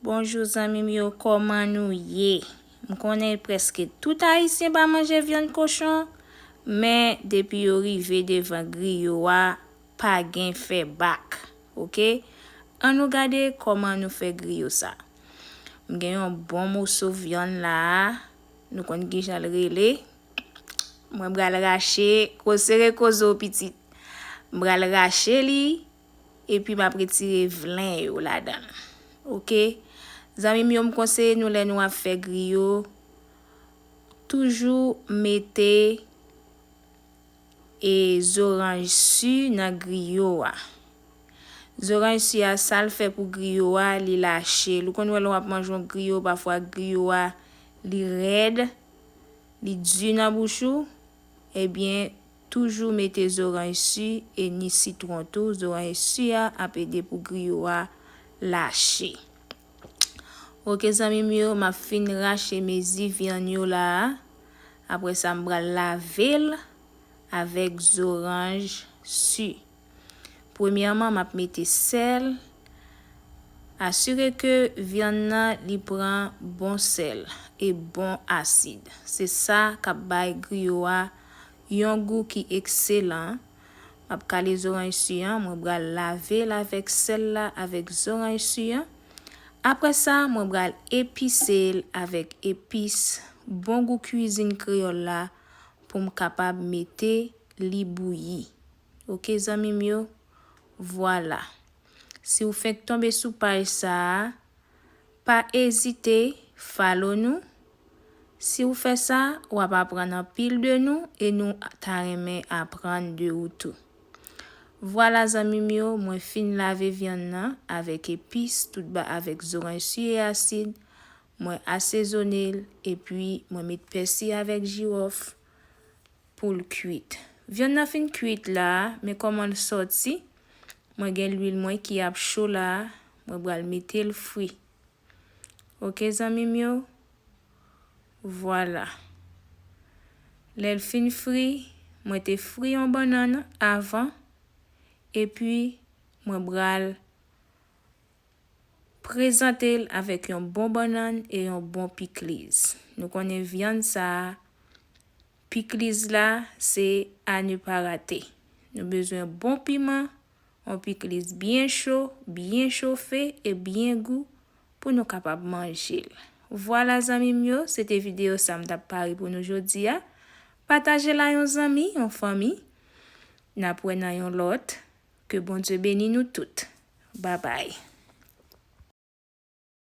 Bonjou zanmim yo koman nou ye m konnen preske tout ayisyen pa manje vyann kochon men depi yo rive devan griyo a pa gen fè bak ok an nou gade koman nou fè griyo sa m gen yon bon moso vyann la a nou konn kijanl rele mwen bral rache ko sere koze w pitit m bral rache li. Epi map retire vlen yo ladanl ok zanmim yo m konseye nou lè nou ap fè griyo toujou mete e zoranj su nan griyo a zoranj su a sal fè pou griyo a li lachel ou konn wè lè wap manje yon griyo pafwa griyo a li rèd li du nan bouch ou ebyen Toujou mete zoranj su e ni sitron tou zoranj su a ap ede pou griyo a lache ok zanmim yo map fin rache mezi vyann yo la a apresa mpral lavel avek zoranj su. Premyèman map mete sèl, asire ke vyann nan li pran bon sèl e bon asid se sa kap bay griyo a yon gou ki ekselan, map kale zoranj su an mwen bral lavel avèk sèl la avèk zoranj su an, aprè sa mwen bral episel avèk epis bon gou kuizin kreyòl la poum kapab mete li bouyi. ok zanmi m yo vwala si w fenk tonbe sou paj sa a pa ezite follow nou si w fè sa w ap aprann anpil de nou e nou ta renmen aprann de ou tou vwala zanmi m yo mwen fin lave vyann nan avèk epis tout ba avèk zoranj su e asid mwen asezone l epi mwen met pèsi avèk jiwòf. poul kwit vyann nan fin kwit la men kòmanl sòti mwen gen lwil mwen ki ap cho la mwen bral metel fri ok zanmim yo vwala lèl fin fri mwen te fri yon bannann avan epi mwen bral prezantel avèk yon bon bannann e yon bon pikliz nou konnen vyann sa. Pikliz la se a ne pa rate. Nou bezwen bon piman, on pikliz byen cho, byen chofe e byen gou pou nou kapab manje l. Vwala zanmi m yo, se te videyo sa m t ap pare pou nou jodi a. Pataje l a yon zanmi, yon fanmi. N ap wè nan yon lòt. Ke Bondye beni nou tout. Babay.